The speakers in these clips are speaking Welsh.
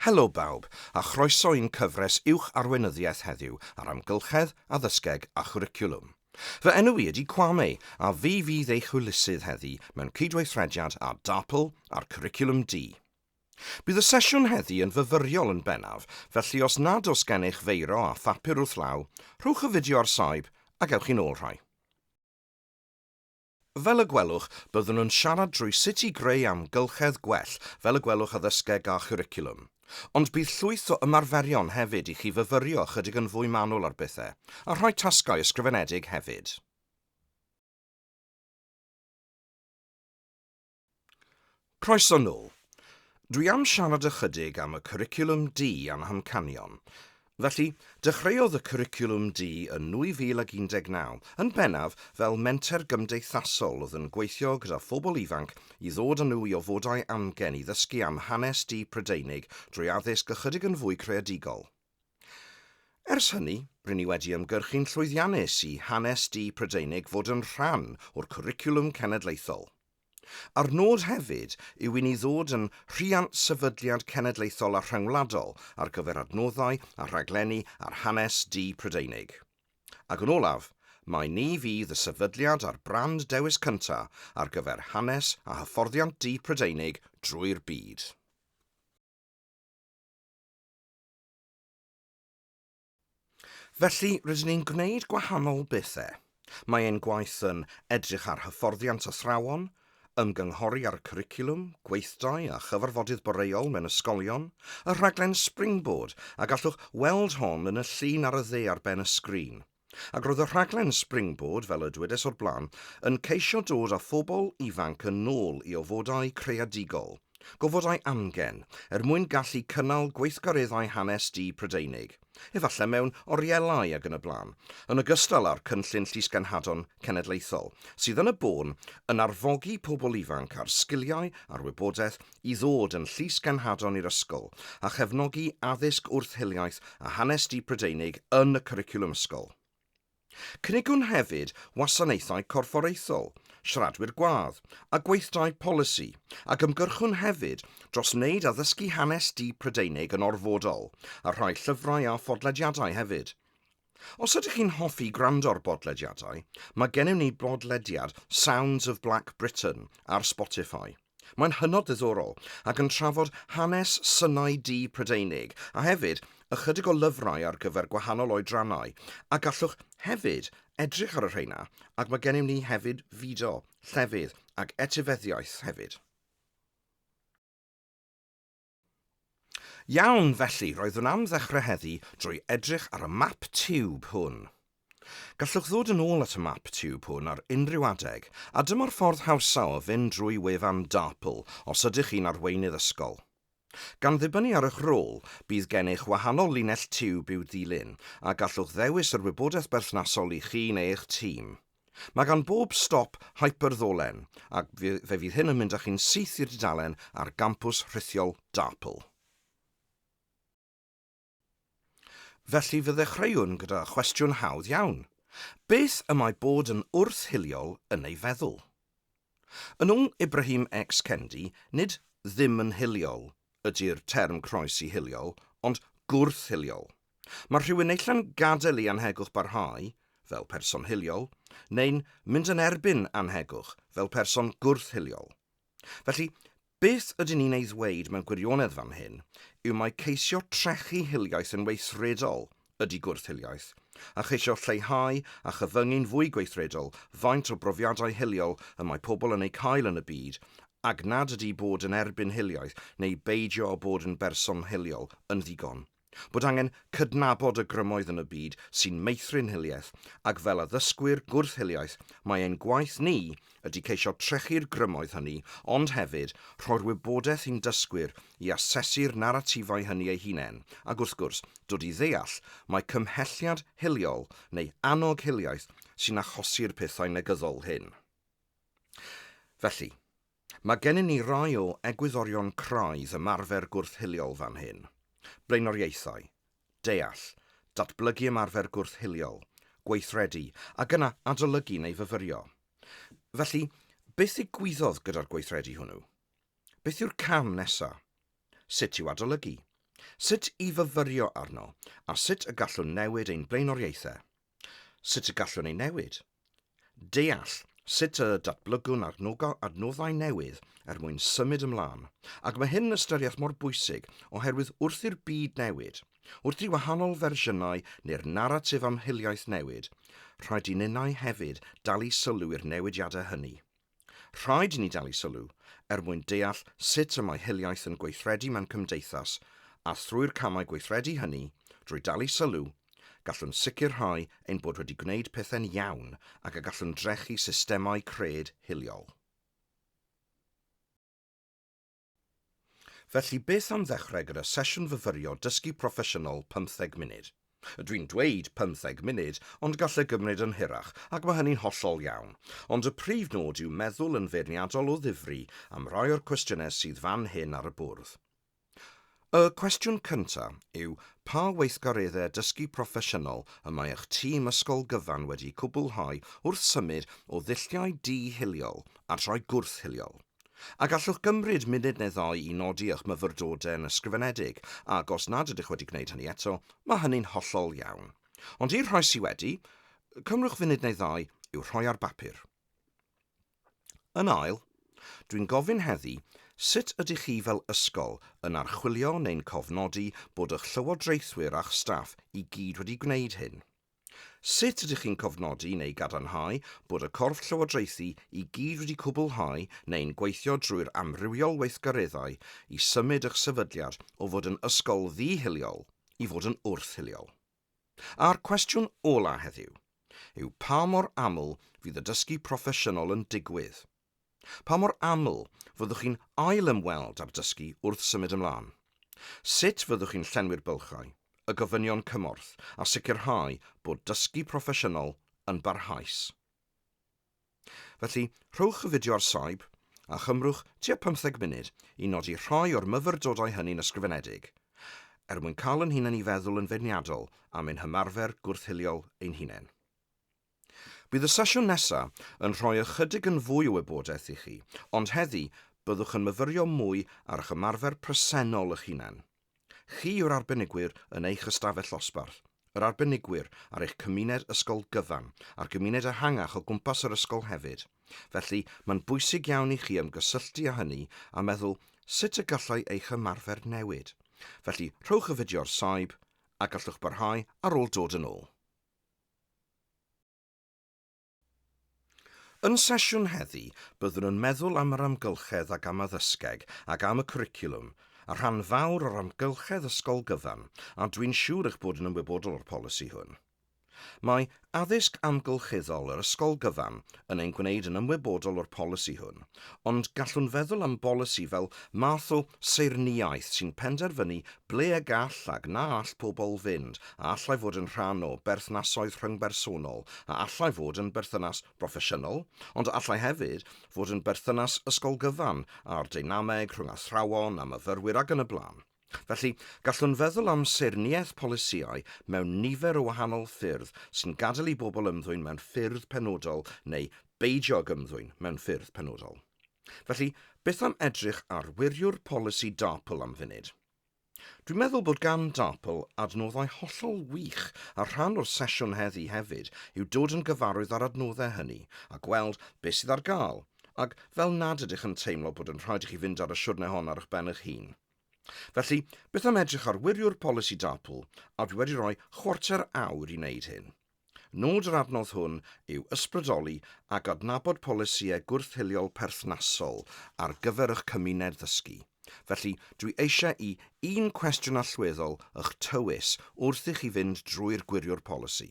Helo bawb, a chroeso i'n cyfres Uwch Arweinyddiaeth heddiw ar Amgylchedd, Addysgeg a Chwricwlwm. Fy enw i ydi Kwame, a fi fydd eich hwylusydd heddi mewn cydweithrediad â DAPL a'r Cwricwlwm Du. Bydd y sesiwn heddi yn fyfyriol yn bennaf, felly os nad oes gennych feiro a phapur wrth law, rhowch y fideo ar saib a gewch chi'n ôl rhai. Fel y gwelwch, byddwn yn siarad drwy sut i greu amgylchedd gwell, fel y gwelwch addysgeg a chwricwlwm. Ond bydd llwyth o ymarferion hefyd i chi fyfyrio ychydig yn fwy manwl ar bethau, a rhoi tasgau ysgrifenedig hefyd. Croeso nôl. Dwi am siarad ychydig am y Cwricwlwm Du a'n hamcanion. Felly, dechreuodd y Cwricwlwm Du yn 2019, yn bennaf fel menter gymdeithasol oedd yn gweithio gyda phobl ifanc i ddod â nhw i ofodau amgen i ddysgu am hanes du Prydeinig drwy addysg ychydig yn fwy creadigol. Ers hynny, rŷn ni wedi ymgyrchu'n llwyddiannus i Hanes Du Prydeinig fod yn rhan o'r Cwricwlwm Cenedlaethol. A'r nod hefyd yw i ni ddod yn rhiant sefydliad cenedlaethol a rhyngwladol ar gyfer adnoddau a rhaglenni ar hanes du Prydeinig. Ac yn olaf, mai ni fydd y sefydliad a'r brand dewis cynta' ar gyfer hanes a hyfforddiant du Prydeinig drwy'r byd. Felly, rydyn ni'n gwneud gwahanol bethau. Mae ein gwaith yn edrych ar hyfforddiant athrawon, ymgynghori ar y cwricwlwm, gweithdai a chyfarfodydd boreol mewn ysgolion, y rhaglen Springboard, a gallwch weld hon yn y llun ar y dde ar ben y sgrin. Ac roedd y rhaglen Springboard, fel y dwedais o'r blaen, yn ceisio dod â phobl ifanc yn ôl i ofodau creadigol, gofodau amgen, er mwyn gallu cynnal gweithgareddau hanes du Prydeinig, efallai mewn orielau ac yn y blaen, yn ogystal â'r cynllun Llysgenhadon Cenedlaethol, sydd yn y bôn yn arfogi pobl ifanc â'r sgiliau a'r wybodaeth i ddod yn Llys Ganhadon i'r ysgol a chefnogi addysg wrth hiliaeth a hanes du Prydeinig yn y cwricwlwm ysgol. Cynigwn hefyd wasanaethau corfforaethol, siaradwyr gwadd, a gweithdai polisi, ac ymgyrchwn hefyd dros wneud addysgu hanes du Prydeinig yn orfodol, a rhoi llyfrau a phodlediadau hefyd. Os ydych chi'n hoffi gwrando ar bodlediadau, mae gennym ni bodlediad Sounds of Black Britain ar Spotify. Mae'n hynod ddiddorol ac yn trafod hanes synau du Prydeinig a hefyd ychydig o lyfrau ar gyfer gwahanol oedrannau a gallwch hefyd edrych ar y rheina ac mae gennym ni hefyd fideo, llefydd ac etifeddiaeth hefyd. Iawn, felly, roeddwn am ddechrau heddi drwy edrych ar y map tiwb hwn. Gallwch ddod yn ôl at y map tiwb hwn ar unrhyw adeg, a dyma'r ffordd hawsa o fynd drwy wefan DARPL os ydych chi'n arweinydd ysgol. Gan ddibynnu ar eich rôl, bydd gennych wahanol linell tiwb i'w ddilyn, a gallwch ddewis yr wybodaeth berthnasol i chi neu eich tîm. Mae gan bob stop hyperddolen, ac fe fydd hyn yn mynd â chi'n syth i'r dudalen ar gampws rhithiol DARPL. Felly fe ddechreuwn gyda chwestiwn hawdd iawn. Beth y mae bod yn wrth-hiliol yn ei feddwl? Yn ôl Ibrahim X. Kendi, nid 'ddim yn hiliol' ydi'r term croesi hiliol, ond 'gwrth-hiliol'. Mae rhywun neilltu'n gadael i annhegwch barhau, fel person hiliol, neu'n mynd yn erbyn annhegwch, fel person gwrth-hiliol. Felly, Beth ydyn ni'n ei ddweud mewn gwirionedd fan hyn yw mai ceisio trechu hiliaeth yn weithredol ydy gwrth-hiliaeth, a cheisio lleihau a chyfyngu'n fwy gweithredol faint o brofiadau hiliol y mae pobl yn eu cael yn y byd, ac nad ydy bod yn erbyn hiliaeth neu beidio â bod yn berson hiliol yn ddigon. Bod angen cydnabod y grymoedd yn y byd sy'n meithrin hiliaeth, ac fel addysgwyr gwrth-hiliaeth mae ein gwaith ni ydy ceisio trechu'r grymoedd hynny ond hefyd rhoi'r wybodaeth i'n dysgwyr i asesu'r naratifau hynny eu hunain ac wrth gwrs dod i ddeall mai cymhelliad hiliol neu annog hiliaeth sy'n achosi'r pethau negyddol hyn. Felly, Mae gennym ni rai o egwyddorion craidd ymarfer gwrth-hiliol fan hyn, blaenoriaethau, deall, datblygu ymarfer gwrth-hiliol, gweithredu, ac yna adolygu neu fyfyrio. Felly, beth ddigwyddodd gyda'r gweithredu hwnnw? Beth yw'r cam nesaf? Sut i'w adolygu? Sut i fyfyrio arno? A sut y gallwn newid ein blaenoriaethau? Sut y gallwn ei newid? Deall sut y datblygwn adnoddau newydd er mwyn symud ymlaen, ac mae hyn yn ystyriaeth mor bwysig oherwydd wrth i'r byd newid, wrth i wahanol fersiynau neu'r naratif am hiliaeth newid, rhaid i ninnau hefyd dalu sylw i'r newidiadau hynny. Rhaid i ni dalu sylw er mwyn deall sut y mae hiliaeth yn gweithredu mewn cymdeithas, a thrwy'r camau gweithredu hynny, drwy dalu sylw, gallwn sicrhau ein bod wedi gwneud pethau'n iawn ac y gallwn drechu systemau cred hiliol. Felly beth am ddechrau gyda sesiwn fyfyrio dysgu proffesiynol pymtheg munud? Dwi'n dweud pymtheg munud ond gall e gymryd yn hirach ac mae hynny'n hollol iawn, ond y prif nod yw meddwl yn feirniadol o ddifri am rai o'r cwestiynau sydd fan hyn ar y bwrdd. Y cwestiwn cyntaf yw pa weithgareddau dysgu proffesiynol y mae eich tîm ysgol gyfan wedi cwblhau wrth symud o ddulliau di-hiliol at rai gwrth-hiliol? A gallwch gymryd munud neu ddau i nodi eich myfyrdodau yn ysgrifenedig, ac os nad ydych wedi gwneud hynny eto, mae hynny'n hollol iawn. Ond i'r rhai sydd wedi, cymrwch funud neu ddau i'w rhoi ar bapur. Yn ail, dwi'n gofyn heddi, sut ydych chi fel ysgol yn archwilio neu'n cofnodi bod y'ch llywodraethwyr a'ch staff i gyd wedi gwneud hyn? Sut ydych chi'n cofnodi neu gadarnhau bod y corff llywodraethu i gyd wedi cwblhau neu'n gweithio drwy'r amrywiol weithgareddau i symud y'ch sefydliad o fod yn ysgol ddi-hiliol i fod yn wrth-hiliol? A'r cwestiwn ola' heddiw yw pa mor aml fydd y dysgu proffesiynol yn digwydd? Pa mor aml fyddwch chi'n ail-ymweld â'r dysgu wrth symud ymlaen? Sut fyddwch chi'n llenwi'r bylchau, y gofynion cymorth a sicrhau bod dysgu proffesiynol yn barhaus? Felly, rhowch y fideo ar saib, a chymrwch tua pymtheg munud i nodi rhai o'r myfyrdodau hynny'n ysgrifenedig, er mwyn cael yn hunain i feddwl yn feirniadol am ein hymarfer gwrth-hiliol ein hunain. Bydd y sesiwn nesa' yn rhoi ychydig yn fwy o wybodaeth i chi, ond heddi byddwch yn myfyrio mwy ar eich ymarfer presennol eich hunain. Chi yw'r arbenigwyr yn eich ystafell ddosbarth, yr arbenigwyr ar eich cymuned ysgol gyfan, a'r gymuned ehangach o gwmpas yr ysgol hefyd, felly mae'n bwysig iawn i chi ymgysylltu â hynny a meddwl sut y gallai eich ymarfer newid. Felly, rhowch y fideo ar saib, a gallwch barhau ar ôl dod yn ôl. Yn sesiwn heddi, byddwn yn meddwl am yr amgylchedd ac am addysgeg ac am y cwricwlwm, a rhan fawr o'r amgylchedd ysgol gyfan, a dwi'n siŵr eich bod yn ymwybodol o'r polisi hwn. Mae addysg amgylcheddol yr ysgol gyfan yn ein gwneud yn ymwybodol o'r polisi hwn, ond gallwn feddwl am bolisi fel math o seirniaeth sy'n penderfynu Ble y gall ac na all pobl fynd, a allai fod yn rhan o berthnasoedd rhyngbersonol, a allai fod yn berthynas broffesiynol, ond a allai hefyd fod yn berthynas ysgol gyfan, a'r deinameg rhwng athrawon a myfyrwyr ac yn y blaen. Felly, gallwn feddwl am saerniaeth polisïau mewn nifer o wahanol ffyrdd sy'n gadael i bobl ymddwyn mewn ffyrdd penodol neu beidio ag ymddwyn mewn ffyrdd penodol. Felly, beth am edrych ar wiriwr polisi DARPL am funud? Dwi'n meddwl bod gan DARPL adnoddau hollol wych a rhan o'r sesiwn heddi hefyd yw dod yn gyfarwydd â'r adnoddau hynny a gweld beth sydd ar gael ac fel nad ydych yn teimlo bod yn rhaid i chi fynd ar y siwrne hon ar eich ben eich hun. Felly, beth am edrych ar wiriwr polisi DARPL a dwi wedi rhoi chwarter awr i wneud hyn. Nod yr adnodd hwn yw ysbrydoli a gydnabod polisïau gwrth-hiliol perthnasol ar gyfer y'ch cymuned ddysgu. Felly, dwi eisiau i un cwestiwn allweddol y'ch tywys wrth i chi fynd drwy'r gwiriwr polisi.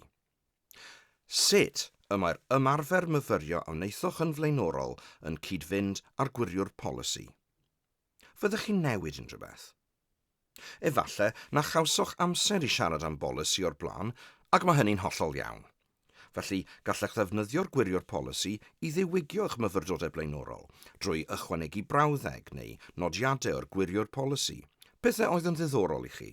Sut y mae'r ymarfer myfyrio a wnaethoch yn flaenorol yn cyd-fynd â'r gwiriwr polisi? Fyddech chi'n newid unrhyw beth? Efallai na chawsoch amser i siarad am bolisi o'r blaen, ac mae hynny'n hollol iawn. Felly, gallech ddefnyddio'r Gwiriwr Polisi i ddiwygio eich myfyrdodau blaenorol, drwy ychwanegu brawddeg neu nodiadau o'r Gwiriwr Polisi, pethau oedd yn ddiddorol i chi.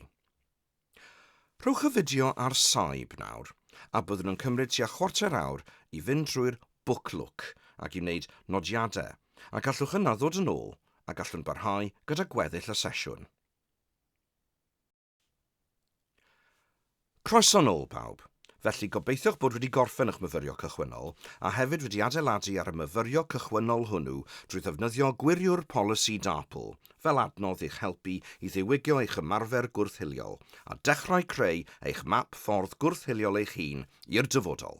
Rhowch y fideo ar saib nawr, a byddwn yn cymryd tua chwarter awr i fynd drwy'r Book Look ac i wneud nodiadau, a gallwch yna ddod yn ôl a gallwn barhau gyda gweddill y sesiwn. Croeso nôl, pawb! Felly, gobeithiwch bod wedi gorffen eich myfyrio cychwynnol, a hefyd wedi adeiladu ar y myfyrio cychwynnol hwnnw drwy ddefnyddio gwiriwr polisi DARPL, fel adnodd i'ch helpu i ddiwygio eich ymarfer gwrth-hiliol a dechrau creu eich map ffordd gwrth-hiliol eich hun i'r dyfodol.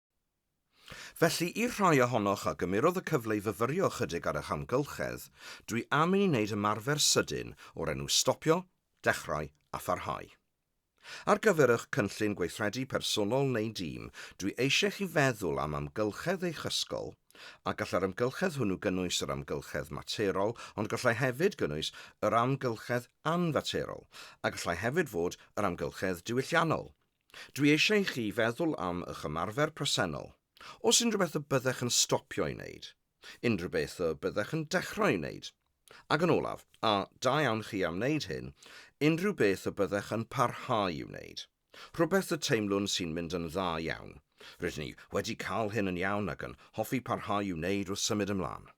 Felly, i'r rhai ohonoch a gymerodd y cyfle i fyfyrio ychydig ar eich amgylchedd, dwi am i ni wneud ymarfer sydyn o'r enw stopio, dechrau a pharhau. Ar gyfer eich cynllun gweithredu personol neu dîm, dwi eisiau chi feddwl am amgylchedd eich ysgol, a gallai'r amgylchedd hwnnw gynnwys yr amgylchedd materol ond gallai hefyd gynnwys yr amgylchedd anfaterol, a gallai hefyd fod yr amgylchedd diwylliannol, Dwi eisiau i chi feddwl am ych ymarfer presennol, oes unrhyw beth y byddech yn stopio ei wneud, unrhyw beth y byddech yn dechrau ei wneud, ac yn olaf, a da iawn chi am wneud hyn, unrhyw beth y byddech yn parhau i'w wneud, rhywbeth y teimlwn sy'n mynd yn dda iawn, rydyn ni wedi cael hyn yn iawn ac yn hoffi parhau i'w wneud wrth symud ymlaen.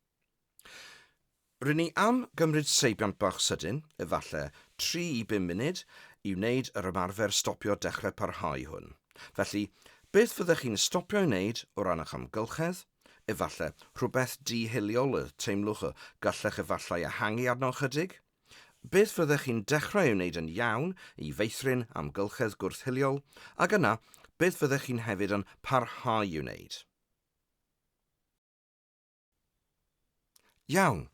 Rŷn ni am gymryd seibiant bach sydyn, efallai tri i bum munud, i wneud yr ymarfer stopio dechrau parhau hwn. Felly, beth fyddech chi'n stopio'i wneud o ran eich amgylchedd? Efallai rhywbeth di-hiliol y teimlwch y gallech efallai ehangu arno ychydig? Beth fyddech chi'n dechrau ei wneud yn iawn i feithrin amgylchedd gwrth-hiliol, ac yna beth fyddech chi'n hefyd yn parhau i'w wneud? Iawn.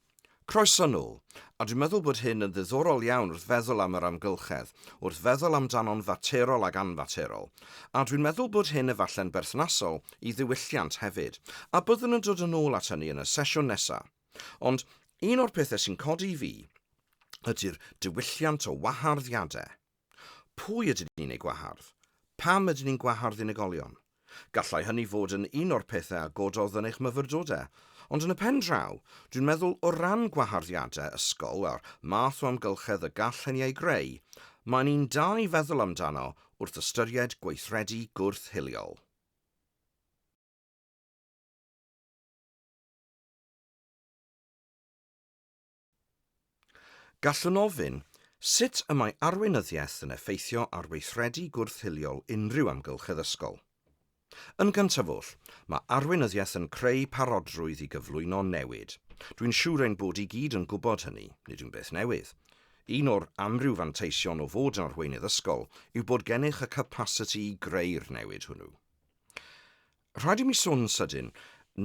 Croeso nôl. A dwi'n meddwl bod hyn yn ddiddorol iawn wrth feddwl am yr amgylchedd, wrth feddwl amdano'n faterol ac anfaterol. A dwi'n meddwl bod hyn efalle'n berthnasol i ddiwylliant hefyd. A byddwn yn dod yn ôl at hynny yn y sesiwn nesa'. Ond un o'r pethe' sy'n codi i fi ydi'r diwylliant o wahardd-iade'. Pwy ydyn ni'n eu gwahardd? Pam ydyn ni'n gwahardd unigolion? Gallai hynny fod yn un o'r pethau a gododd yn eich myfyrdodau, ond yn y pen draw, dwi'n meddwl o ran gwaharddiadau ysgol a'r math o amgylchedd y gall hynny ei greu, mae'n un da i feddwl amdano wrth ystyried gweithredu gwrth-hiliol. Gallwn ofyn, sut y mae arweinyddiaeth yn effeithio ar weithredu gwrth-hiliol unrhyw amgylch addysgol? Yn gyntaf oll, mae arweinyddiaeth yn creu parodrwydd i gyflwyno newid. Dwi'n siŵr ein bod i gyd yn gwybod hynny, nid yw'n beth newydd. Un o'r amryw fanteision o fod yn arweinydd ysgol yw bod gennych y capasiti i greu'r newid hwnnw. Rhaid i mi sôn yn sydyn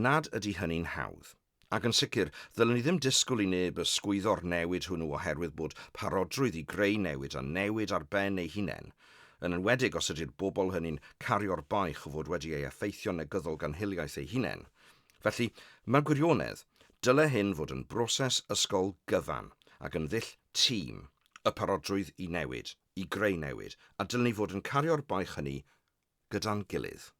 nad ydy hynny'n hawdd. Ac yn sicr, ddylen ni ddim disgwyl i neb ysgwyddo'r newid hwnnw oherwydd bod parodrwydd i greu newid a newid ar ben ei hunain, yn enwedig os ydy'r bobl hynny'n cario'r baich o fod wedi ei effeithio'n negyddol gan hiliaeth eu hunain. Felly, mewn gwirionedd, dyle hyn fod yn broses ysgol gyfan ac yn ddull tîm, y parodrwydd i newid, i greu newid, a dylwn ni fod yn cario'r baich hynny gyda'n gilydd.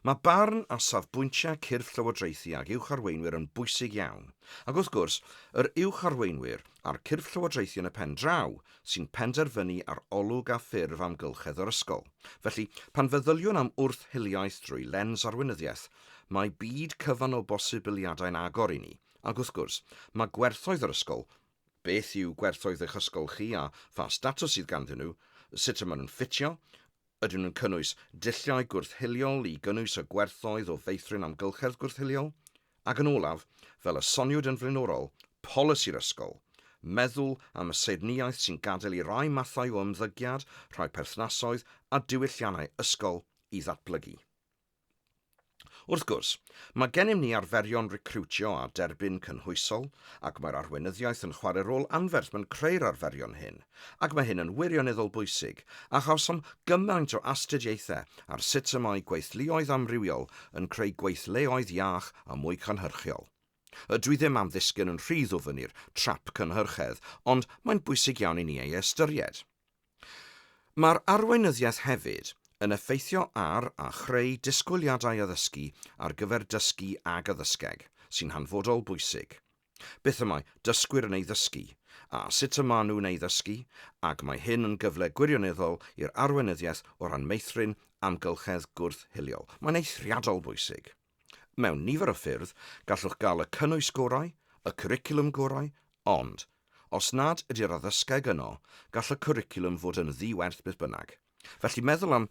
Mae barn a safbwyntiau cyrff llywodraethu ag uwch arweinwyr yn bwysig iawn, ac wrth gwrs, yr uwch arweinwyr a'r cyrff llywodraethu yn y pen draw sy'n penderfynu ar olwg a ffurf amgylchedd yr ysgol. Felly, pan feddyliwn am wrth-hiliaeth drwy lens arweinyddiaeth, mae byd cyfan o bosibiliadau'n agor i ni, ac wrth gwrs, mae gwerthoedd yr ysgol Beth yw gwerthoedd eich ysgol chi a pha statws sydd ganddyn nhw, sut y maen nhw'n ffitio, ydyn nhw'n cynnwys dulliau gwrth-hiliol i gynnwys y gwerthoedd o feithrin amgylchedd gwrth-hiliol, ac yn olaf, fel y soniwyd yn flaenorol, polisi'r ysgol, meddwl am y saernïaeth sy'n gadael i rai mathau o ymddygiad, rhai perthnasoedd a diwylliannau ysgol i ddatblygu. Wrth gwrs, mae gennym ni arferion recriwtio a derbyn cynhwysol ac mae'r arweinyddiaeth yn chwarae rôl anferth mewn creu'r arferion hyn, ac mae hyn yn wirioneddol bwysig, a chawsom gymaint o astudiaethau ar sut y mae gweithluoedd amrywiol yn creu gweithleoedd iach a mwy cynhyrchiol. A dwi ddim am ddisgyn yn rhy ddwfn i'r trap cynhyrchedd, ond mae'n bwysig iawn i ni ei ystyried. Mae'r arweinyddiaeth hefyd yn effeithio ar a chreu disgwyliadau addysgu ar gyfer dysgu ag addysgeg, sy'n hanfodol bwysig. Beth y mae dysgwyr yn ei ddysgu, a sut y maen nhw'n ei ddysgu, ac mae hyn yn gyfle gwirioneddol i'r arweinyddiaeth o ran meithrin amgylchedd gwrth-hiliol. Mae'n eithriadol bwysig. Mewn nifer o ffyrdd, gallwch gael y cynnwys gorau, y cwricwlwm gorau, ond, os nad ydy'r addysgeg yno, gall y cwricwlwm fod yn ddi-werth beth bynnag. Felly meddwl am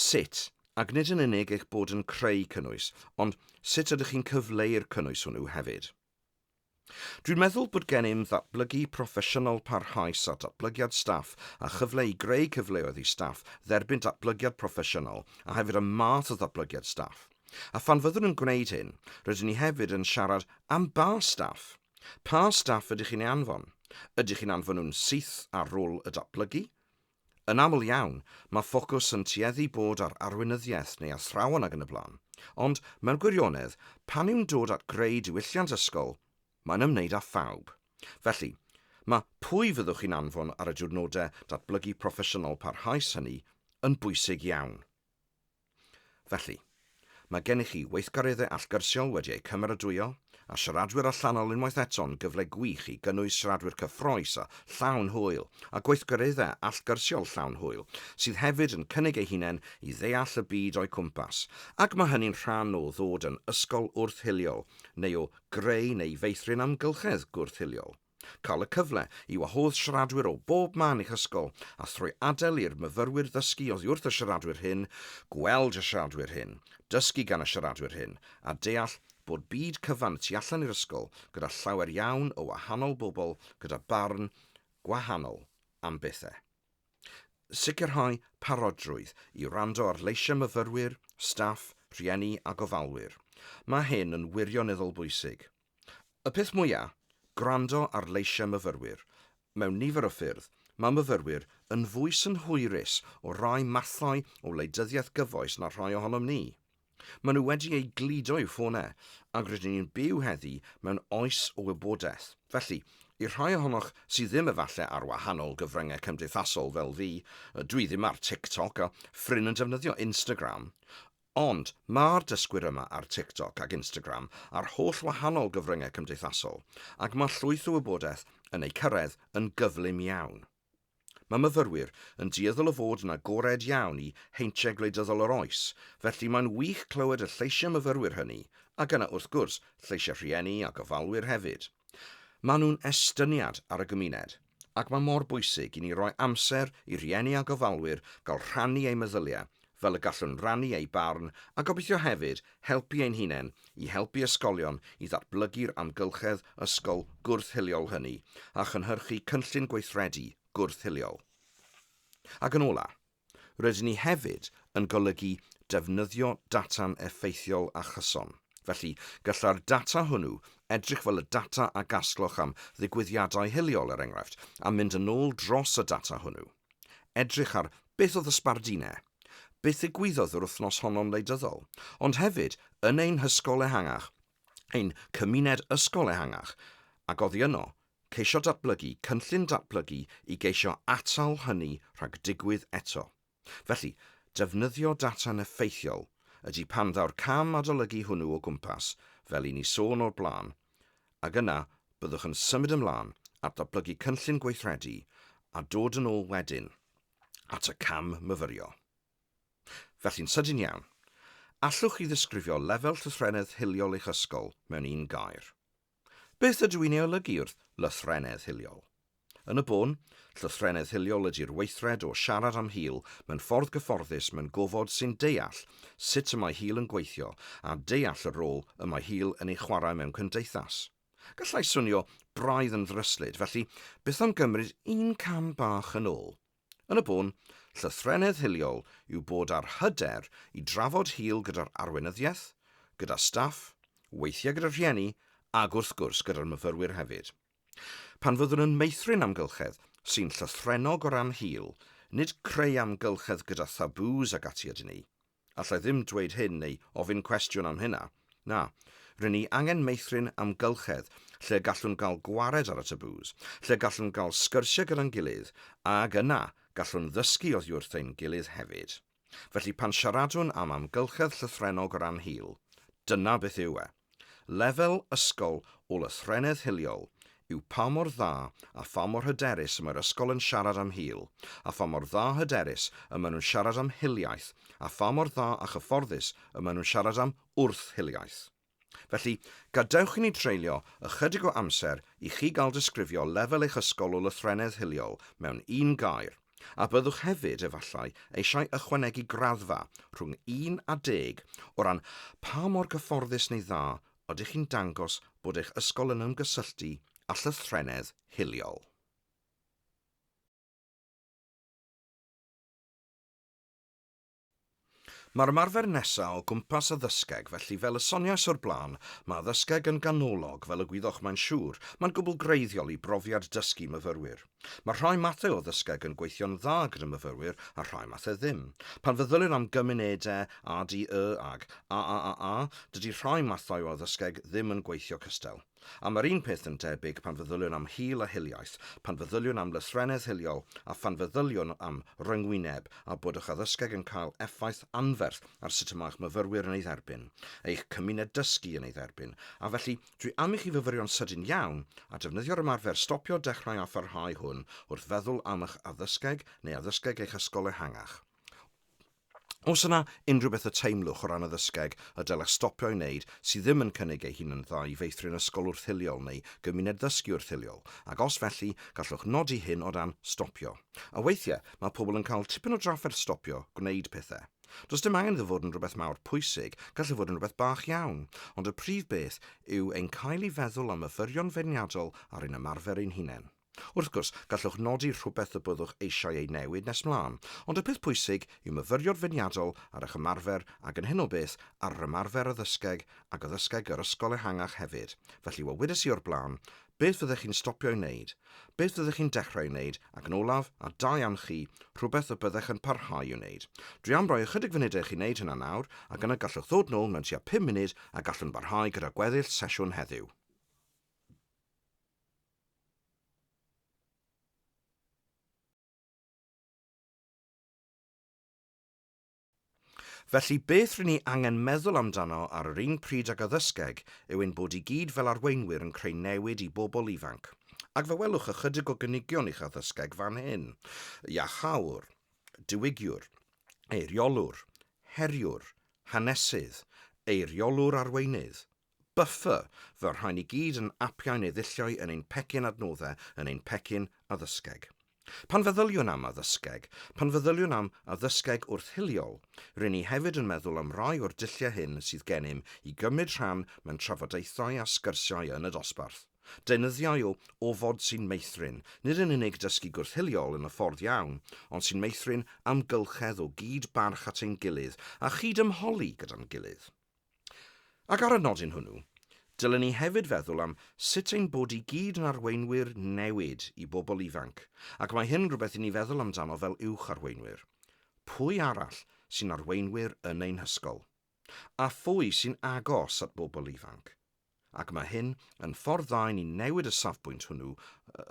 sut, ac nid yn unig eich bod yn creu cynnwys, ond sut ydych chi'n cyfleu'r cynnwys hwnnw hefyd. Dwi'n meddwl bod gennym ddatblygu proffesiynol parhaus a datblygiad staff a chyfle i greu cyfleoedd i staff dderbyn datblygiad proffesiynol a hefyd y math o ddatblygiad staff. A phan fyddwn yn gwneud hyn, rydyn ni hefyd yn siarad am ba staff. Pa staff ydych chi'n ei anfon? Ydych chi'n anfon nhw'n syth ar rôl y datblygu? Yn aml iawn, mae ffocws yn tueddu bod ar arweinyddiaeth neu athrawon ac yn y blaen, ond, mewn gwirionedd, pan yw'n dod at greu diwylliant ysgol, mae'n ymwneud â phawb. Felly, mae pwy fyddwch chi'n anfon ar y diwrnodau datblygu proffesiynol parhaus hynny yn bwysig iawn. Felly, mae gennych chi weithgareddau allgyrsiol wedi eu cymeradwyo, a siaradwyr allanol unwaith eto'n gyfle gwych i gynnwys siaradwyr cyffrous a llawn hwyl, a gweithgareddau allgyrsiol llawn hwyl sydd hefyd yn cynnig eu hunain i ddeall y byd o'u cwmpas, ac mae hynny'n rhan o ddod yn ysgol wrth-hiliol, neu o greu neu feithrin amgylchedd gwrth-hiliol. Cael y cyfle i wahodd siaradwyr o bob man i'ch ysgol a thrwy adael i'r myfyrwyr ddysgu oddi wrth y siaradwyr hyn, gweld y siaradwyr hyn, dysgu gan y siaradwyr hyn, a deall bod byd cyfan y tu allan i'r ysgol gyda llawer iawn o wahanol bobl gyda barn gwahanol am bethau. Sicrhau parodrwydd i wrando ar leisiau myfyrwyr, staff, rhieni a gofalwyr. Mae hyn yn wirioneddol bwysig. Y peth mwya', gwrando ar leisiau myfyrwyr. Mewn nifer o ffyrdd, mae myfyrwyr yn fwy synhwyrus o rai mathau o wleidyddiaeth gyfoes na rhai ohonom ni. Maen nhw wedi eu gludo i'w ffonau, ac rydyn ni'n byw heddi mewn oes o wybodaeth. Felly, i'r rhai ohonoch sydd ddim efallai ar wahanol gyfryngau cymdeithasol fel fi, dwi ddim ar TikTok a Ffrin yn defnyddio Instagram, Ond, mae'r dysgwyr yma ar TikTok ac Instagram a'r holl wahanol gyfryngau cymdeithasol, ac mae llwyth o wybodaeth yn eu cyrraedd yn gyflym iawn. Mae myfyrwyr yn dueddol o fod yn agored iawn i heintiau gwleidyddol yr oes, felly mae'n wych clywed y lleisiau myfyrwyr hynny, ac yna wrth gwrs lleisiau rhieni a gofalwyr hefyd. Maen nhw'n estyniad ar y gymuned. ac mae mor bwysig i ni roi amser i rieni a gofalwyr gael rhannu eu meddyliau fel y gallwn rannu eu barn a gobeithio hefyd helpu ein hunain i helpu ysgolion i ddatblygu'r amgylchedd ysgol gwrth-hiliol hynny a chynhyrchu cynllun gweithredu gwrth-hiliol. Ac yn olaf, Rydyn ni hefyd yn golygu defnyddio data'n effeithiol a chyson. Felly, gallai'r data hwnnw edrych fel y data a gasgloch am ddigwyddiadau hiliol, er enghraifft, a mynd yn ôl dros y data hwnnw. Edrych ar beth oedd y sbardine, beth ddigwyddodd yr wythnos honno'n wleidyddol, ond hefyd yn ein hysgol ehangach, ein cymuned ysgol ehangach, ac oddi yno, ceisio datblygu cynllun datblygu i geisio atal hynny rhag digwydd eto. Felly, defnyddio data'n effeithiol ydy pan ddaw'r cam adolygu hwnnw o gwmpas, fel i ni sôn o'r blaen, ac yna byddwch yn symud ymlaen at ddatblygu cynllun gweithredu a dod yn ôl wedyn at y cam myfyrio. Felly'n sydyn iawn, allwch chi ddisgrifio lefel llythrennedd hiliol eich ysgol mewn un gair? Beth ydw i'n ei olygu wrth lythrennedd hiliol? Yn y bôn, llythrennedd hiliol ydy'r weithred o siarad am hil mewn ffordd gyfforddus mewn gofod sy'n deall sut y mae hil yn gweithio a deall y rôl y mae hil yn ei chwarae mewn cymdeithas. Gallai swnio braidd yn ddryslyd, felly beth am gymryd un cam bach yn ôl? Yn y bôn, llythrennedd hiliol yw bod â'r hyder i drafod hil gyda'r arweinyddiaeth, gyda staff, weithiau gyda rhieni ac wrth gwrs gyda'r myfyrwyr hefyd. Pan fyddwn yn meithrin amgylchedd sy'n llythrennog o ran hil, nid creu amgylchedd gyda thabŵs ac ati ydyn ni, Alla i ddim dweud hyn neu ofyn cwestiwn am hynna. Na. Rŷn ni angen meithrin amgylchedd lle gallwn gael gwared ar y tabŵs, lle gallwn gael sgyrsiau gyda'n gilydd, ac yna gallwn ddysgu oddi wrth ein gilydd hefyd. Felly pan siaradwn am amgylchedd llythrennog o ran hil, dyna beth yw e. Lefel ysgol Ôl-y-threnedd hiliol yw pa mor dda a pha mor hyderus y mae'r ysgol yn siarad am hil, a pha mor dda a hyderus y maen nhw'n siarad am hiliaeth, a pha mor dda a chyfforddus y maen nhw'n siarad am wrth-hiliaeth. Felly, gadewch i ni dreulio ychydig o amser i chi gael disgrifio lefel eich ysgol Ôl-y-threnedd hiliol mewn un gair. A byddwch hefyd, efallai, eisiau ychwanegu graddfa rhwng 1 a 10 o ran pa mor gyfforddus neu dda ydych chi'n dangos bod eich ysgol yn ymgysylltu â llythrennedd hiliol. Mae'r ymarfer nesaf o gwmpas addysgeg, felly fel y soniais o'r blaen, mae addysgeg yn ganolog, fel y gwyddoch mae'n siŵr, mae'n gwbl greiddiol i brofiad dysgu myfyrwyr. Mae rhai mathau o addysgeg yn gweithio'n dda gyda myfyrwyr a rhai mathau ddim. Pan feddylir am gymunedau, ADY ag AAAA, dydy rhai mathau o addysgeg ddim yn gweithio cystal. A mae'r un peth yn debyg pan feddyliwn am hil a hiliaeth, pan feddyliwn am lythrennedd hiliol a phan feddyliwn am ryngwyneb a bod eich addysgeg yn cael effaith anferth ar sut y mae'ch myfyrwyr yn ei dderbyn, eich cymuned dysgu yn ei dderbyn. A felly, dwi am i chi fyfyrio'n sydyn iawn a defnyddio'r ymarfer stopio dechrau a pharhau hwn wrth feddwl am eich addysgeg neu addysgeg eich ysgol ehangach. Os yna unrhyw beth y teimlwch o ran addysgeg y dylech stopio ei wneud sydd ddim yn cynnig ei hun yn dda i feithrin ysgol wrthyliol neu gymuned ddysgu wrthyliol, ac os felly, gallwch nodi hyn o dan 'stopio'. A weithiau, mae pobl yn cael tipyn o drafferth stopio gwneud pethau. Does dim angen iddo fod yn rhywbeth mawr pwysig, gall e fod yn rhywbeth bach iawn, ond y prif beth yw ein cael i feddwl am y fyrion feirniadol ar ein ymarfer ein hunain. Wrth gwrs, gallwch nodi rhywbeth y byddwch eisiau ei newid nes mlaen, ond y peth pwysig yw myfyrio'r feirniadol ar eich ymarfer ac yn hyn o beth, ar yr ymarfer a ddysgeg ac a ddysgeg yr ysgol ehangach hefyd. Felly, fel wedes i o'r blaen, beth fyddech chi'n stopio'i wneud? Beth fyddech chi'n dechrau'i wneud? Ac yn olaf, a da iawn chi, rhywbeth y byddech yn parhau i'w wneud. Dwi am roi ychydig funudau i chi wneud hynna nawr, ac yna gallwch ddod nôl mewn tua pum munud a gallwn barhau gyda gweddill sesiwn heddiw. Felly, beth rŷn ni angen meddwl amdano ar yr un pryd ag addysgeg yw ein bod i gyd fel arweinwyr yn creu newid i bobl ifanc. Ac fe welwch ychydig o gynigion i'ch addysgeg fan hyn. Iachawr, diwygiwr, eiriolwr, heriwr, hanesydd, eiriolwr arweinydd, Buffer, Fy rhain i gyd yn apiau neu ddulliau yn ein pecyn adnoddau, yn ein pecyn addysgeg. Pan feddyliwn am addysgeg, pan feddyliwn am addysgeg wrth-hiliol, ry'n ni hefyd yn meddwl am rai o'r dulliau hyn sydd gennym i gymryd rhan mewn trafodaethau a sgyrsiau yn y dosbarth. Deunyddiau o ofod sy'n meithrin, nid yn unig dysgu gwrth-hiliol yn y ffordd iawn, ond sy'n meithrin amgylchedd o gyd-barch at ein gilydd a chyd-ymholi gyda'n gilydd. Ac ar y nodyn hwnnw, dylen ni hefyd feddwl am sut ein bod i gyd yn arweinwyr newid i bobl ifanc, ac mae hyn yn rhywbeth i ni feddwl amdano fel uwch-arweinwyr. Pwy arall sy'n arweinwyr yn ein hysgol? A phwy sy'n agos at bobl ifanc? ac mae hyn yn ffordd dda i ni newid y safbwynt hwnnw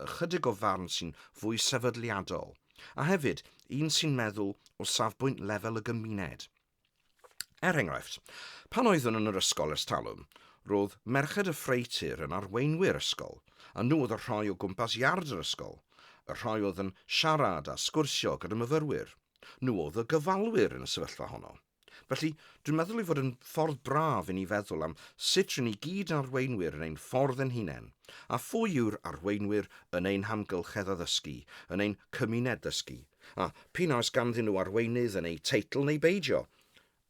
ychydig o farn sy'n fwy sefydliadol, a hefyd un sy'n meddwl o safbwynt lefel y gymuned. Er enghraifft, pan oeddwn yn yr ysgol ers talwm, roedd Merched y Ffreutur yn arweinwyr ysgol, a nhw oedd y rhai o gwmpas iard yr ysgol, y rhai oedd yn siarad a sgwrsio gyda myfyrwyr, nhw oedd y gofalwyr yn y sefyllfa honno. Felly, dwi'n meddwl ei fod yn ffordd braf i ni feddwl am sut rŷn ni gyd arweinwyr yn ein ffordd yn hunain, a phwy yw'r arweinwyr yn ein hamgylchedd addysgu, yn ein cymuned ddysgu, a p'un a oes ganddyn nhw arweinydd yn eu teitl neu beidio,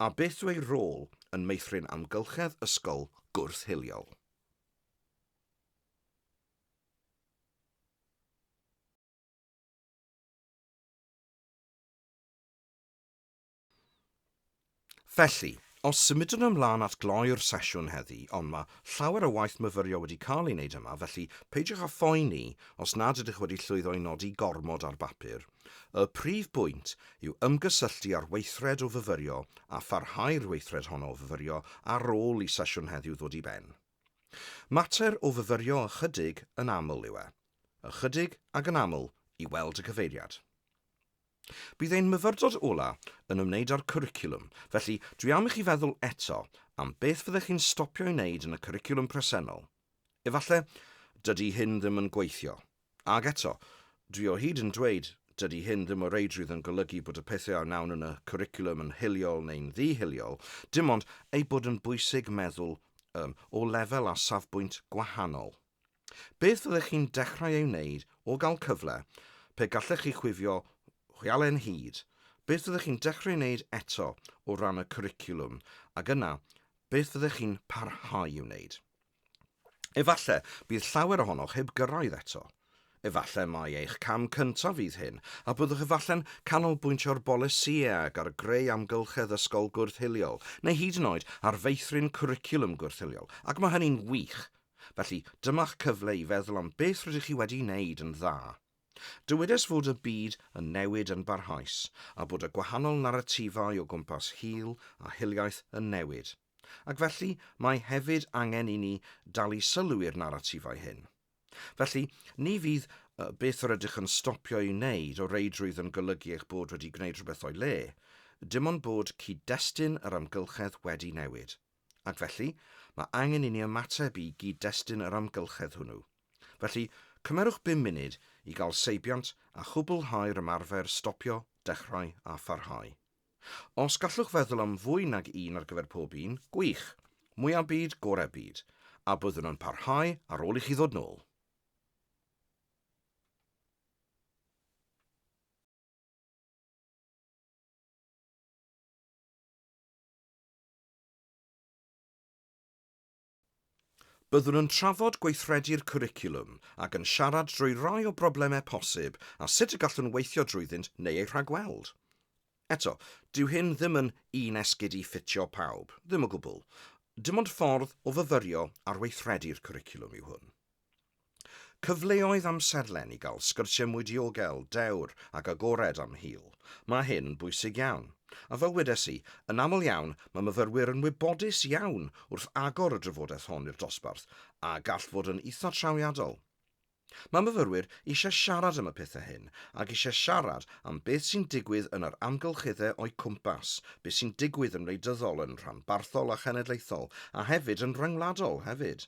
a beth yw eu rôl yn meithrin amgylchedd ysgol gwrth-hiliol. Felly, os symudwn ymlaen at gloi'r sesiwn heddi, ond mae llawer o waith myfyrio wedi cael ei wneud yma, felly peidiwch â phoeni os nad ydych wedi llwyddo i nodi gormod ar bapur. Y prif bwynt yw ymgysylltu â'r weithred o fyfyrio a pharhau'r weithred honno o fyfyrio ar ôl i sesiwn heddiw ddod i ben. Mater o fyfyrio ychydig yn aml yw e. Ychydig ac yn aml i weld y cyfeiriad. Bydd ein myfyrdod ola yn ymwneud â'r cwricwlwm, felly dwi am i chi feddwl eto am beth fyddech chi'n stopio i wneud yn y cwricwlwm presennol. Efalle, dydy hyn ddim yn gweithio. Ag eto, dwi o hyd yn dweud, dydy hyn ddim o reidrwydd yn golygu bod y pethau a wnawn yn y cwricwlwm yn hiliol neu'n ddi-hiliol, dim ond eu bod yn bwysig meddwl um, o lefel a safbwynt gwahanol. Beth fyddech chi'n dechrau ei wneud o gael cyfle, pe gallech chi chwifio hwyalen hud? Beth fyddech chi'n dechrau ei wneud eto o ran y cwricwlwm? Ac yna, beth fyddech chi'n parhau i'w wneud? Efallai bydd llawer ohonoch heb gyrraedd eto. Efallai mai eich cam cyntaf fydd hyn, a byddwch efallai'n canolbwyntio ar bolisïau ar greu amgylchedd ysgol gwrth-hiliol, neu hyd yn oed ar feithrin cwricwlwm gwrth-hiliol, ac mae hynny'n wych, Felly, dyma'ch cyfle i feddwl am beth rydych chi wedi wneud yn dda. Dywedes fod y byd yn newid yn barhaus, a bod y gwahanol naratifau o gwmpas hil a hiliaeth yn newid, ac felly mae hefyd angen i ni dalu sylw i'r naratifau hyn. Felly, ni fydd beth yr ydych yn stopio ei wneud o reidrwydd yn golygu eich bod wedi gwneud rhywbeth o'i le, dim ond bod cyd-destun yr amgylchedd wedi newid. Ac felly, mae angen i ni ymateb i gyd-destun yr amgylchedd hwnnw. Felly, cymerwch bum munud i gael seibiant a chwblhau'r ymarfer stopio, dechrau a pharhau. Os gallwch feddwl am fwy nag un ar gyfer pob un, gwych! Mwya byd, gore byd. A byddwn yn parhau ar ôl i chi ddod nôl. Byddwn yn trafod gweithredu'r cwricwlwm ac yn siarad drwy rai o broblemau posib a sut y gallwn weithio drwyddynt neu eu rhagweld. Eto, dyw hyn ddim yn un esgid i ffitio pawb, ddim o gwbl. Dim ond ffordd o fyfyrio ar weithredu'r cwricwlwm yw hwn. Cyfleoedd amserlen i gael sgyrsiau mwy diogel, dewr ac agored am hil. Mae hyn bwysig iawn. A fel wedes i, yn aml iawn mae myfyrwyr yn wybodus iawn wrth agor y drafodaeth hon i'r dosbarth a gall fod yn eitha' trawiadol. Mae myfyrwyr eisiau siarad am y pethau hyn ac eisiau siarad am beth sy'n digwydd yn yr amgylcheddau o'u cwmpas, beth sy'n digwydd yn wleidyddol, yn rhanbarthol a chenedlaethol a hefyd yn rhyngwladol hefyd.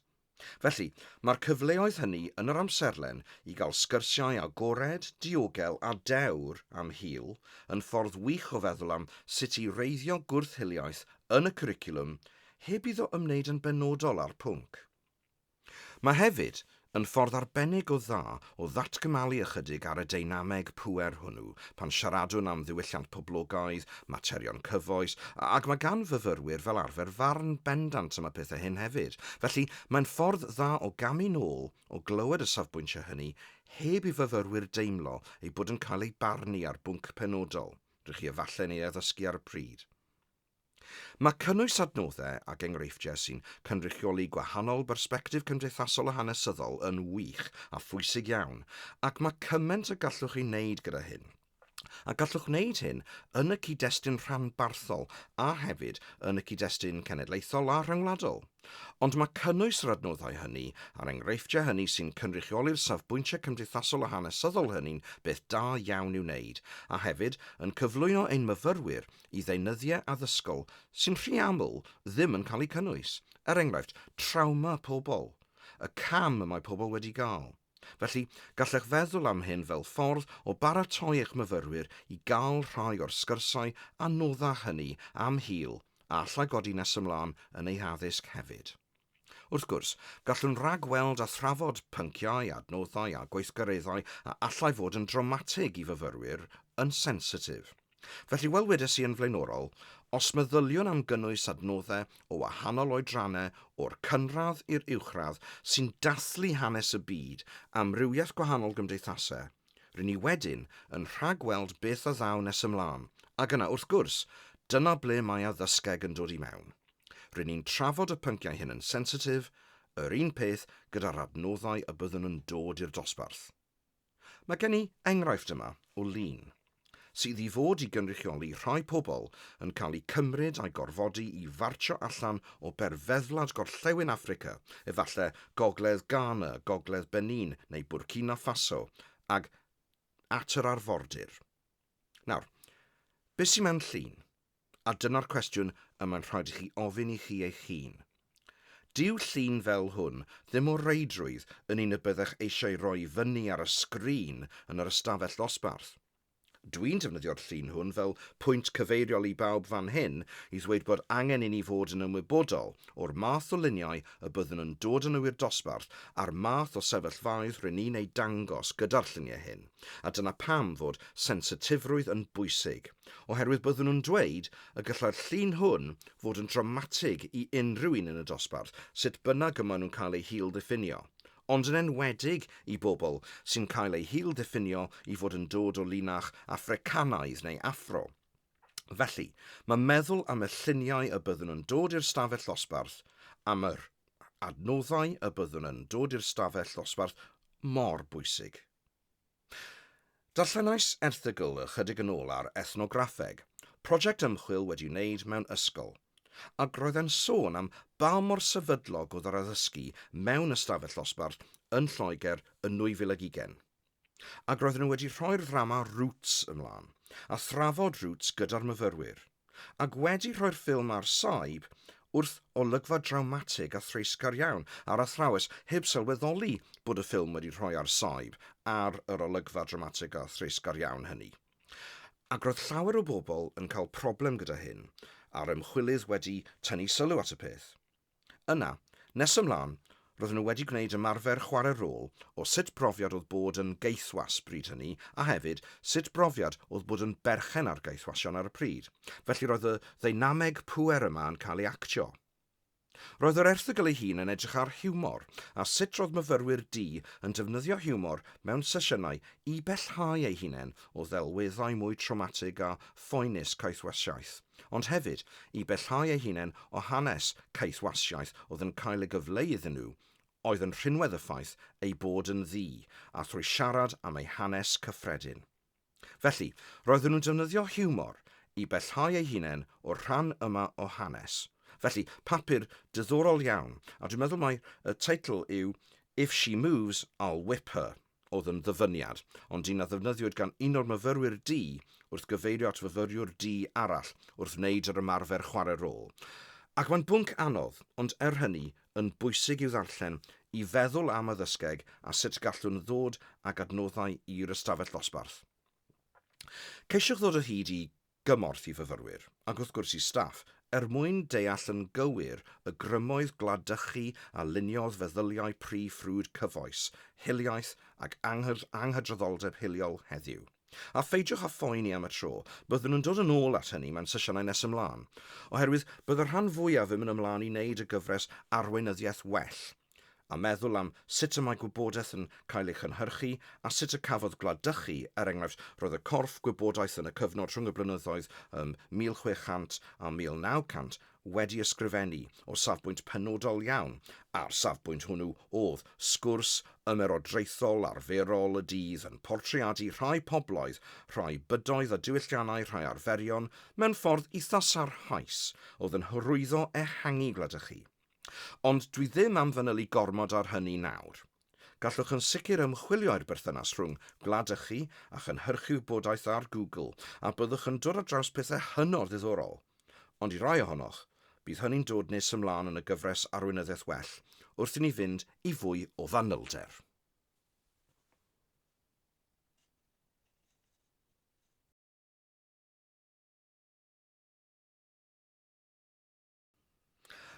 Felly, mae'r cyfleoedd hynny yn yr amserlen i gael sgyrsiau agored, diogel a dewr am hil yn ffordd wych o feddwl am sut i wreiddio gwrth-hiliaeth yn y cwricwlwm heb iddo ymwneud yn benodol â'r pwnc. Mae hefyd yn ffordd arbennig o dda o ddatgymalu ychydig ar y deinameg pŵer hwnnw pan siaradwn am ddiwylliant poblogaidd, materion cyfoes, ac mae gan fyfyrwyr fel arfer farn bendant am y pethau hyn hefyd. Felly, mae'n ffordd dda o gamu nôl o glywed y safbwyntiau hynny heb i fyfyrwyr deimlo eu bod yn cael eu barnu ar bwnc penodol, rŷch chi efallai'n ei addysgu ar y pryd. Mae cynnwys adnoddau ac enghreifftiau sy'n cynrychioli gwahanol bersbectif cymdeithasol a hanesyddol yn wych a phwysig iawn, ac mae cymaint y gallwch ei wneud gyda hyn. A gallwch wneud hyn yn y cyd-destun rhanbarthol a hefyd yn y cyd-destun cenedlaethol a rhyngwladol. Ond mae cynnwys yr adnoddau hynny a'r enghreifftiau hynny sy'n cynrychioli'r safbwyntiau cymdeithasol a hanesyddol hynny'n beth da iawn i'w wneud, a hefyd yn cyflwyno ein myfyrwyr i ddeunyddiau addysgol sy'n rhy aml ddim yn cael eu cynnwys, er enghraifft, trawma pobl, y cam y mae pobl wedi gael. Felly, gallech feddwl am hyn fel ffordd o baratoi eich myfyrwyr i gael rhai o'r sgyrsiau anoddach hynny am hil a allai godi nes ymlaen yn eu haddysg hefyd. Wrth gwrs, gallwn ragweld a thrafod pynciau, adnoddau a gweithgareddau a allai fod yn drawmatig i fyfyrwyr, yn sensitif. Felly, fel wedes i yn flaenorol, os meddyliwn am gynnwys adnoddau o wahanol oedrannau o'r cynradd i'r uwchradd sy'n dathlu hanes y byd, amrywiaeth gwahanol gymdeithasau, ry'n ni wedyn yn rhagweld beth a ddaw nes ymlaen, ac yna, wrth gwrs, dyna ble mae addysgeg yn dod i mewn. Ry'n ni'n trafod y pynciau hyn yn sensitif, yr un peth gyda'r adnoddau y byddwn yn dod i'r dosbarth. Mae gen i enghraifft yma o lun sydd i fod i gynrychioli rhai pobl yn cael eu cymryd a'u gorfodi i fartsio allan o berfeddwlad gorllewin Affrica, efallai gogledd Ghana, gogledd Benin neu Burkina Faso, ac at yr arfordir. Nawr, beth sy'n mewn llun? A dyna'r cwestiwn y mae'n rhaid i chi ofyn i chi eich hun. Dyw llun fel hwn ddim o reidrwydd yn un y byddech eisiau roi fyny ar y sgrin yn yr ystafell ddosbarth. Dwi'n defnyddio'r llun hwn fel pwynt cyfeiriol i bawb fan hyn i ddweud bod angen i ni fod yn ymwybodol o'r math o luniau y byddwn yn dod â nhw i'r dosbarth a'r math o sefyllfaoedd rŷn ni'n eu dangos gyda'r lluniau hyn. a dyna pam fod sensitifrwydd yn bwysig, oherwydd byddwn nhw'n dweud y gallai'r llun hwn fod yn dramatig i unrhyw un yn y dosbarth, sut bynnag y maen nhw'n cael eu hil-ddiffinio, ond yn enwedig i bobl sy'n cael eu hil-ddiffinio i fod yn dod o linach Affricanaidd neu Affro. Felly, mae meddwl am y lluniau y byddwn yn dod i'r stafell ddosbarth, am yr adnoddau y byddwn yn dod i'r stafell ddosbarth, mor bwysig. Darllenais erthygl ychydig yn ôl ar Ethnograffeg, prosiect ymchwil wedi wneud mewn ysgol, ac roedd e'n sôn am ba mor sefydlog oedd yr addysgu mewn ystafell ddosbarth yn Lloegr yn 2020. Ac roedden nhw wedi rhoi'r ddrama 'Roots' ymlaen, a thrafod 'Roots' gyda'r myfyrwyr. ac wedi rhoi'r ffilm ar saib wrth olygfa drawmatig a threisgar iawn ar athrawes heb sylweddoli bod y ffilm wedi rhoi ar saib ar yr olygfa dramatig a threisgar iawn hynny. Ac roedd llawer o bobl yn cael problem gyda hyn, a'r ymchwilydd wedi tynnu sylw at y peth. Yna, nes ymlaen, roedden nhw wedi gwneud ymarfer chwarae rôl o sut brofiad oedd bod yn gaethwas bryd hynny a hefyd sut brofiad oedd bod yn berchen ar gaethwasion ar y pryd, felly roedd y ddeinameg pŵer yma yn cael ei actio. Roedd yr erthygl ei hun yn edrych ar hiwmor a sut roedd myfyrwyr du yn defnyddio hiwmor mewn sesiynau i bellhau eu hunain o ddelweddau mwy trawmatig a phoenus caethwasiaeth. ond hefyd i bellhau eu hunain o hanes caethwasiaeth oedd yn cael ei gyfleu iddyn nhw, oedd yn rhinwedd y ffaith eu bod yn ddu, a thrwy siarad am eu hanes cyffredin. Felly, roedden nhw'n defnyddio hiwmor i bellhau eu hunain o'r rhan yma o hanes. Felly, papur diddorol iawn, a dwi'n meddwl mai y teitl yw If She Moves, I'll Whip Her. oedd yn ddyfyniad, ond un a ddefnyddiwyd gan un o'r myfyrwyr du wrth gyfeirio at fyfyriwr du arall wrth wneud yr ymarfer chwarae rôl. Ac mae'n bwnc anodd, ond er hynny, yn bwysig i'w ddarllen, i feddwl am addysgeg a sut gallwn ddod ag adnoddau i'r ystafell ddosbarth. Ceisiwch ddod o hyd i gymorth i fyfyrwyr, ac wrth gwrs i staff, er mwyn deall yn gywir y grymoedd gwladychu a luniodd feddyliau pry ffrwd cyfoes, hiliaeth ac anghydraddoldeb hiliol heddiw. A pheidiwch â phoeni am y tro, byddwn yn dod yn ôl at hynny mewn sesiynau nes ymlaen, oherwydd bydd y rhan fwyaf ddim yn ymlaen i wneud y gyfres arweinyddiaeth well, a meddwl am sut y mae gwybodaeth yn cael ei chynhyrchu a sut y cafodd Gwlad Dychu, er enghraifft, roedd y corff gwybodaeth yn y cyfnod rhwng y blynyddoedd ym 1600 a 1900 wedi ysgrifennu o safbwynt penodol iawn, a'r safbwynt hwnnw oedd sgwrs ymerodraethol arferol y dydd yn portreadu rhai pobloedd, rhai bydoedd a diwylliannau, rhai arferion, mewn ffordd eitha sarhaus oedd yn hyrwyddo ehangu Gwlad Dychu. Ond dwi ddim am fanylu gormod ar hynny nawr. Gallwch yn sicr ymchwilio i'r berthynas rhwng gwlad ychi a chynhyrchu wybodaeth ar Google a byddwch yn dod ar draws pethau hynod ddiddorol. Ond i rai ohonoch, bydd hynny'n dod nes ymlaen yn y gyfres Arweinyddiaeth Well wrth i ni fynd i fwy o fanylder.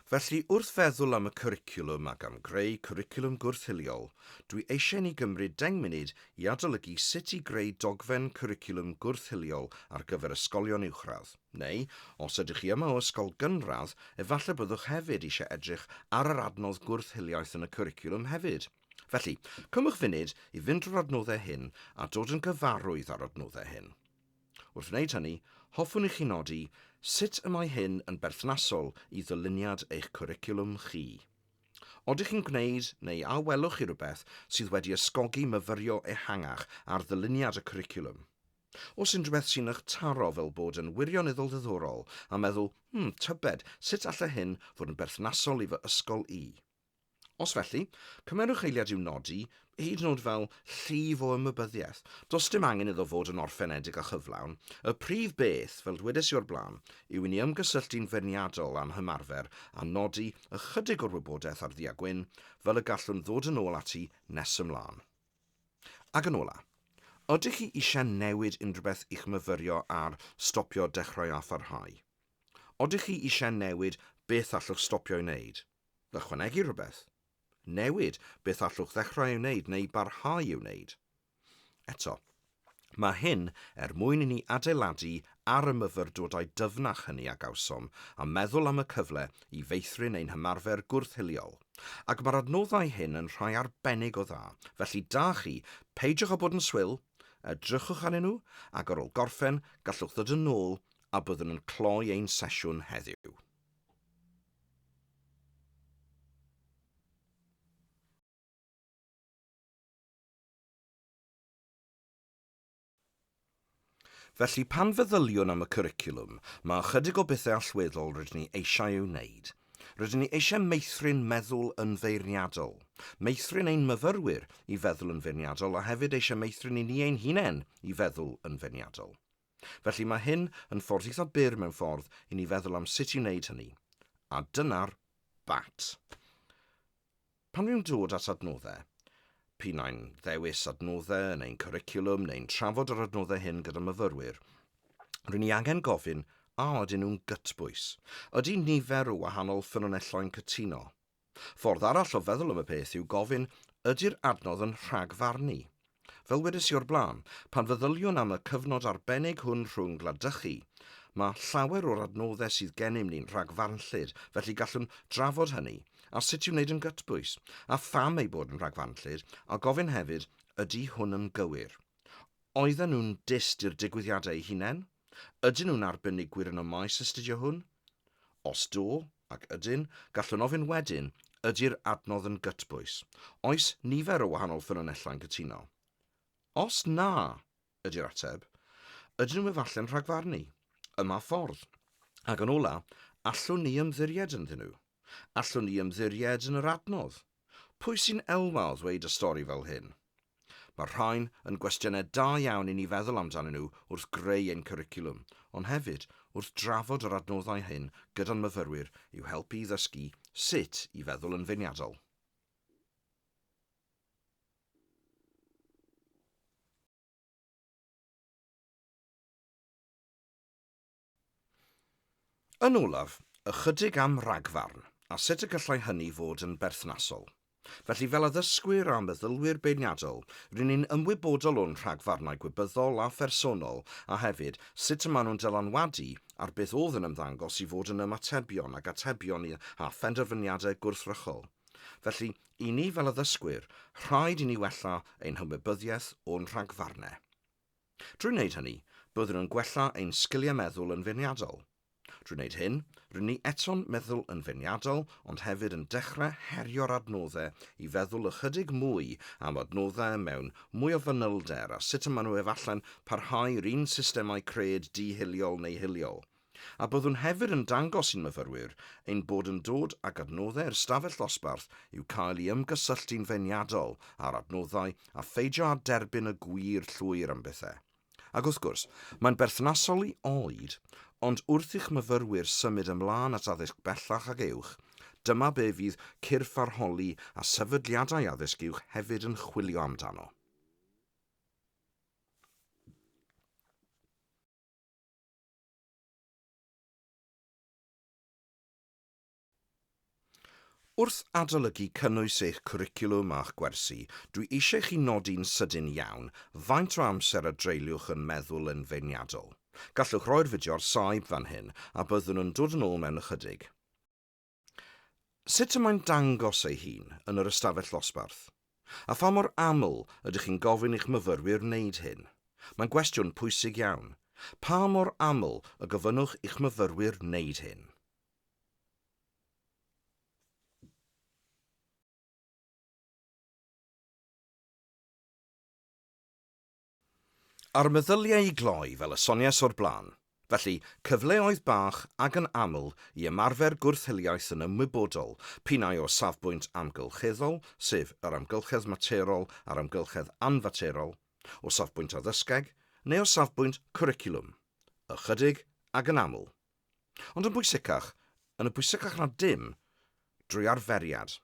Felly, wrth feddwl am y cwricwlwm ac am greu cwricwlwm gwrth-hiliol, dwi eisiau i ni gymryd deng munud i adolygu sut i greu dogfen cwricwlwm gwrth-hiliol ar gyfer ysgolion uwchradd, neu, os ydych chi yma o ysgol gynradd, efallai byddwch hefyd eisiau edrych ar yr adnodd gwrth-hiliaeth yn y cwricwlwm hefyd. Felly, cymwch funud i fynd drwy'r adnoddau hyn a dod yn gyfarwydd â'r adnoddau hyn. Wrth wneud hynny, hoffwn i chi nodi sut y mae hyn yn berthnasol i ddyluniad eich cwricwlwm chi. Oeddech chi'n gwneud, neu a welwch chi rywbeth sydd wedi ysgogi myfyrio ehangach ar ddyluniad y cwricwlwm? Oes unrhyw beth sy'n eich taro fel bod yn wirioneddol ddiddorol a meddwl, 'hmm, tybed, sut allai hyn fod yn berthnasol i fy ysgol i? Os felly, cymerwch eiliad i'w nodi, hyd yn oed fel llif o ymwybyddiaeth. Does dim angen iddo fod yn orffenedig a chyflawn. Y prif beth, fel dwedais i o'r blaen, yw i ni ymgysylltu'n feirniadol â'n hymarfer a nodi ychydig o'r wybodaeth ar ddu a gwyn, fel y gallwn ddod yn ôl ati nes ymlaen. Ac yn ola', ydych chi eisiau newid unrhywbeth i'ch myfyrio ar Stopio, Dechrau a Pharhau? Odych chi eisiau newid beth allwch stopio'i wneud? Ychwanegu rhywbeth. Newid beth allwch ddechrau ei wneud neu barhau i'w wneud. Eto, mae hyn er mwyn i ni adeiladu ar y myfyrdodau dyfnach hynny a gawsom a meddwl am y cyfle i feithrin ein hymarfer gwrth-hiliol. Ac mae'r adnoddau hyn yn rhai arbennig o dda, felly da chi, peidiwch â bod yn swil, edrychwch arnyn nhw ac ar ôl gorffen gallwch ddod yn ôl a byddwn yn cloi ein sesiwn heddiw. Felly, pan feddyliwn am y cwricwlwm, mae ychydig o bethau allweddol rydyn ni eisiau eu wneud. Rydyn ni eisiau meithrin meddwl yn feirniadol, meithrin ein myfyrwyr i feddwl yn feirniadol a hefyd eisiau meithrin i ni ein hunain i feddwl yn feirniadol. Felly mae hyn yn ffordd eitha byr mewn ffordd i ni feddwl am sut i wneud hynny. A dyna'r bat. Pan fi'n dod at adnoddau, p'un ai'n ddewis adnoddau yn ein cwricwlwm neu'n trafod yr adnoddau hyn gyda myfyrwyr, ry'n ni angen gofyn a ydyn nhw'n gytbwys? Ydy nifer o wahanol ffynonelloi'n cytuno? Ffordd arall o feddwl am y peth yw gofyn, ydy'r adnodd yn rhagfarnu? Fel wedes i o'r blaen, pan feddyliwn am y cyfnod arbennig hwn rhwng gwladychu, mae llawer o'r adnoddau sydd gennym ni'n rhagfarnllyd, felly gallwn drafod hynny, a sut i'w wneud yn gytbwys, a pham eu bod yn rhagfarnllyd, a gofyn hefyd, ydy hwn yn gywir? Oedden nhw'n dyst i'r digwyddiadau eu hunain? Ydyn nhw'n arbenigwyr yn y maes astudio hwn? Os do, ac ydyn, gallwn ofyn wedyn, ydy'r adnodd yn gytbwys? Oes nifer o wahanol ffynonellau'n cytuno? Os na, ydy'r ateb, ydyn nhw efalle'n rhagfarnu? Yma ffordd. Ac yn ola, allwn ni ymddiried ynddyn nhw? Allwn ni ymddiried yn yr adnodd? Pwy sy'n elwa o ddweud y stori fel hyn? Mae'r rhain yn gwestiynau da iawn i ni feddwl amdanyn nhw wrth greu ein cwricwlwm, ond hefyd wrth drafod yr adnoddau hyn gyda'n myfyrwyr i'w helpu i ddysgu sut i feddwl yn feirniadol. Yn olaf, ychydig am ragfarn, a sut y gallai hynny fod yn berthnasol. Felly, fel addysgwyr a meddylwyr beirniadol, ry'n ni'n ymwybodol o'n rhagfarnau gwybyddol a phersonol a hefyd sut y maen nhw'n dylanwadu ar beth oedd yn ymddangos i fod yn ymatebion ac atebion i a phenderfyniadau gwrthrychol. Felly, i ni fel addysgwyr, rhaid i ni wella ein hymwybyddiaeth o'n rhagfarnau. Drwy wneud hynny, byddwn yn gwella ein sgiliau meddwl yn feirniadol. Drwy wneud hyn, rŷn ni eto'n meddwl yn feirniadol ond hefyd yn dechrau herio'r adnoddau i feddwl ychydig mwy am adnoddau mewn mwy o fanylder a sut y maen nhw efallai'n parhau i'r un systemau cred di-hiliol neu hiliol A byddwn hefyd yn dangos i'n myfyrwyr ein bod yn dod ag adnoddau i'r stafell ddosbarth i'w cael i ymgysylltu'n feirniadol â'r adnoddau a pheidio â derbyn y gwir llwyr am bethau. Ac wrth gwrs, mae'n berthnasol i oed, ond wrth i'ch myfyrwyr symud ymlaen at addysg bellach ac uwch, dyma be fydd cyrff arholi a sefydliadau addysg uwch hefyd yn chwilio amdano. Wrth adolygu cynnwys eich cwricwlwm a'ch gwersi, dwi eisiau i chi nodi'n sydyn iawn faint o amser a dreuliwch yn meddwl yn feirniadol. Gallwch roi'r fideo ar saib fan hyn a byddwn yn dod yn ôl mewn ychydig. Sut y mae'n dangos ei hun yn yr ystafell ddosbarth? A pha mor aml ydych chi'n gofyn i'ch myfyrwyr wneud hyn? Mae'n gwestiwn pwysig iawn. Pa mor aml y gofynnwch i'ch myfyrwyr wneud hyn? A'r meddyliau i gloi, fel y soniais o'r blaen. Felly, cyfleoedd bach ac yn aml i ymarfer gwrth-hiliaeth yn ymwybodol, p'un-ai o safbwynt amgylcheddol, sef yr amgylchedd materol a'r amgylchedd anfaterol, o safbwynt addysgeg, neu o safbwynt cwricwlwm. Ychydig, ac yn aml. Ond yn bwysicach, yn y pwysicach na dim, drwy arferiad.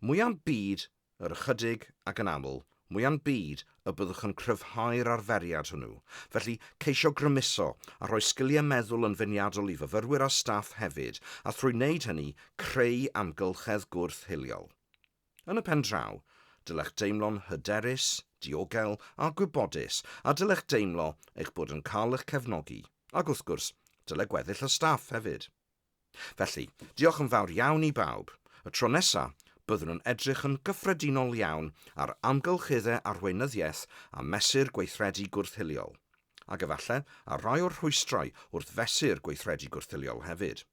Mwya'm byd, yr ychydig, ac yn aml, mwya'm byd, y byddwch yn cryfhau'r arferiad hwnnw. Felly, ceisio grymuso, a rhoi sgiliau meddwl yn feniadol i fyfyrwyr a staff hefyd, a thrwy wneud hynny, creu amgylchedd gwrth-hiliol. Yn y pen draw, dylech deimlo'n hyderus, diogel a gwybodus a dylech deimlo eich bod yn cael eich cefnogi, ac wrth gwrs, dyle gweddill y staff hefyd. Felly, diolch yn fawr iawn i bawb. Y tro nesa, byddwn yn edrych yn gyffredinol iawn ar amgylcheddau arweinyddiaeth a mesur gweithredu gwrth-hiliol, ac efallai ar rai o'r rhwystrau wrth fesur gweithredu gwrth-hiliol hefyd.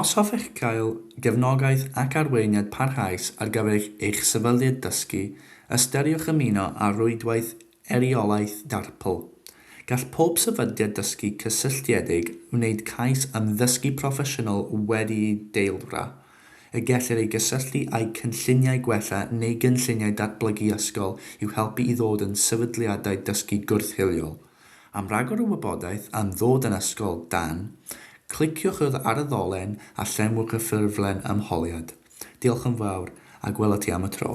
Os hoffech gael gefnogaeth ac arweiniad parhaus ar gyfer eich sefydliad dysgu, ystyriwch ymuno â Rhwydwaith Eiriolaeth Darpl. Gall pob sefydliad dysgu cysylltiedig wneud cais am ddysgu proffesiynol wedi'i deilwra, y gellir ei gysylltu â'u cynlluniau gwella neu gynlluniau datblygu ysgol i'w helpu i ddod yn sefydliadau dysgu gwrth-hiliol. Am ragor o wybodaeth am ddod yn Ysgol Dan, cliciwch yr ar y ddolen a llenwch y ffurflen ymholiad. Diolch yn fawr, a gwela ti am y tro.